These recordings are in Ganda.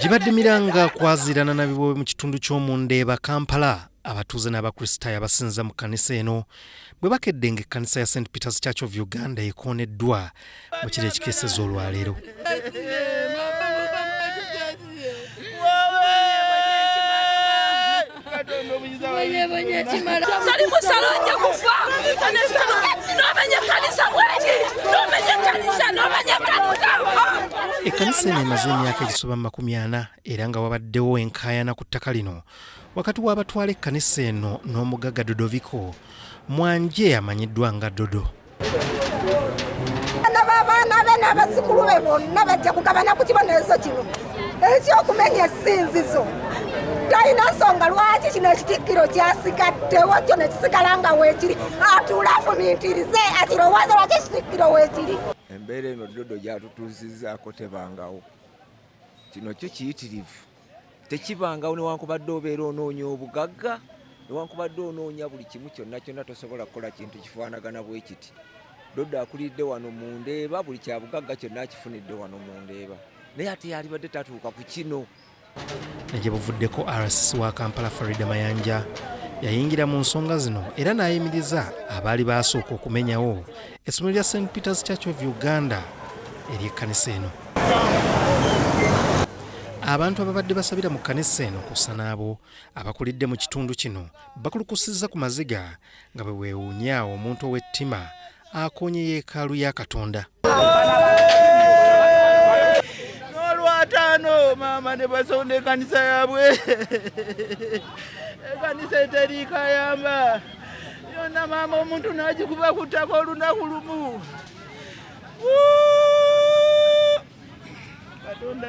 gibadde miranga kwaziirana na bibobe mu kitundu ky'omunda eba kampala abatuuze n'abakristaayo abasinza mu kkanisa eno bwe bakedde nga ekkanisa ya st peters church of uganda ekooneddwa mu kiro ekikeeseza olwaleero Salimu Salonja kufa nomenya kanisa bweki nomenya kanisa nomenya kanisa ekkanisa eno emaze emyaka egisoba mu makumi ana era nga wabaddewo enkaayana ku ttaka lino wakati w'abatwala ekkanisa eno n'omugagga dodoviko mwanje amanyiddwa nga dodo abaana be n'abazzukulu be bonna bajja kugabana ku kibonerezo kino ekyokumenya esinzizo talina nsonga lwaki kino ekitikkiro kyasigaddewo kyo nekisigala nga weekiri atuula afumintirize akirowooza lwaki ekitikkiro weekiri embeera eno dodo gyatutuuzizaako tebangawo kino kyo kiyitirivu tekibangawo newankubadde obeera onoonya obugagga newankubadde onoonya buli kimu kyonna kyonna tosobola kukola kintu kifaanagana bwe kiti doddo akulidde wano mu ndeeba buli kyabugagga kyonna akifunidde wano mu ndeeba naye ate yalibadde tatuuka ku kino egye buvuddeko rcc wa kampala farida mayanja yayingira mu nsonga zino era n'ayimiriza abaali baasooka okumenyawo Essomero lya St Peters Church of Uganda ery'ekkanisa eno. Abantu ababadde basabira mu kkanisa eno kussa n'abo abakulidde mu kitundu kino bakulukusizza ku maziga nga bwe weewuunya omuntu ow'ettima akoonye yeekaalu ya Katonda. n'olwataano maama ne basonda ekkanisa yaabwe ekkanisa eteriikayamba yona maama omuntu nagikuba kuttaka olunaku lumu katonda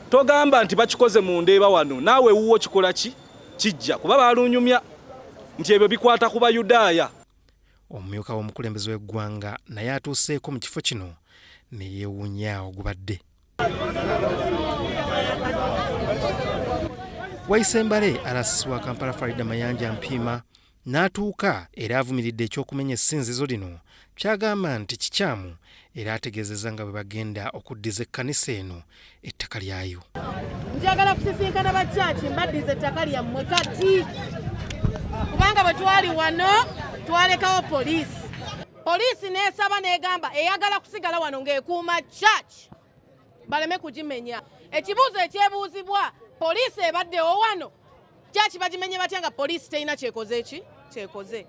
togamba nti bakikoze mu ndeeba wano naawe wuwo kikola ki kijja kuba balunyumya nti ebyo bikwata ku bayudaaya omumyuka w'omukulembeze w'eggwanga naye atuuseeko mu kifo kino ne yeewuunya ogubadde wayise mbale alasisi wa kampala farida mayanja mpiima n'atuuka era avumiridde ekyokumenya essinzizo lino kyagamba nti kikyamu era ategeezezza nga bwe bagenda okuddiza ekkanisa eno ettaka lyayo. Njagala kusisinkana ba kyaki mbaddiza ettaka lyammwe kati kubanga bwe twali wano twalekawo poliisi poliisi n'esaba n'egamba eyagala kusigala wano ng'ekuuma church baleme kugimenya ekibuuzo ekyebuuzibwa poliisi ebaddewo wano church bagimenye batya nga poliisi terina kyekoze ki kyekoze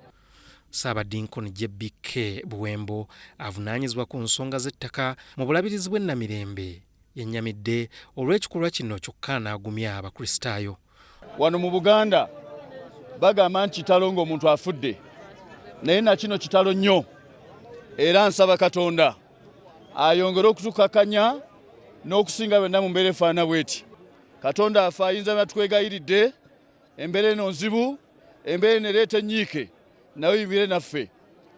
Ssaabadinkoni JBK Buwembo avunaanyizibwa ku nsonga z'ettaka mu bulabirizi bw'e Namirembe yennyamidde olw'ekikolwa kino kyokka n'agumya Abakristaayo. Wano mu Buganda bagamba nti kitalo ng'omuntu afudde naye na kino kitalo nnyo era nsaba Katonda ayongere okutukakanya n'okusinga byonna mu mbeera efaana bweti. Katonda afe ayinza natukwegayiride. Embeera eno nzibu, embeera eno ereeta ennyiike, nawe yimire naffe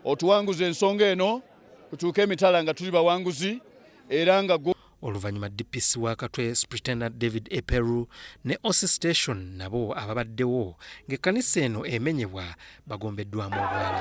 otuwanguze ensonga eno tutuuke emitala nga tuli bawanguzi era nga Oluvannyuma DPC wa Katwe Superintendent David Eperu ne Osi Station nabo ababaddewo ng'ekkanisa eno emenyebwa bagombeddwamu obwala.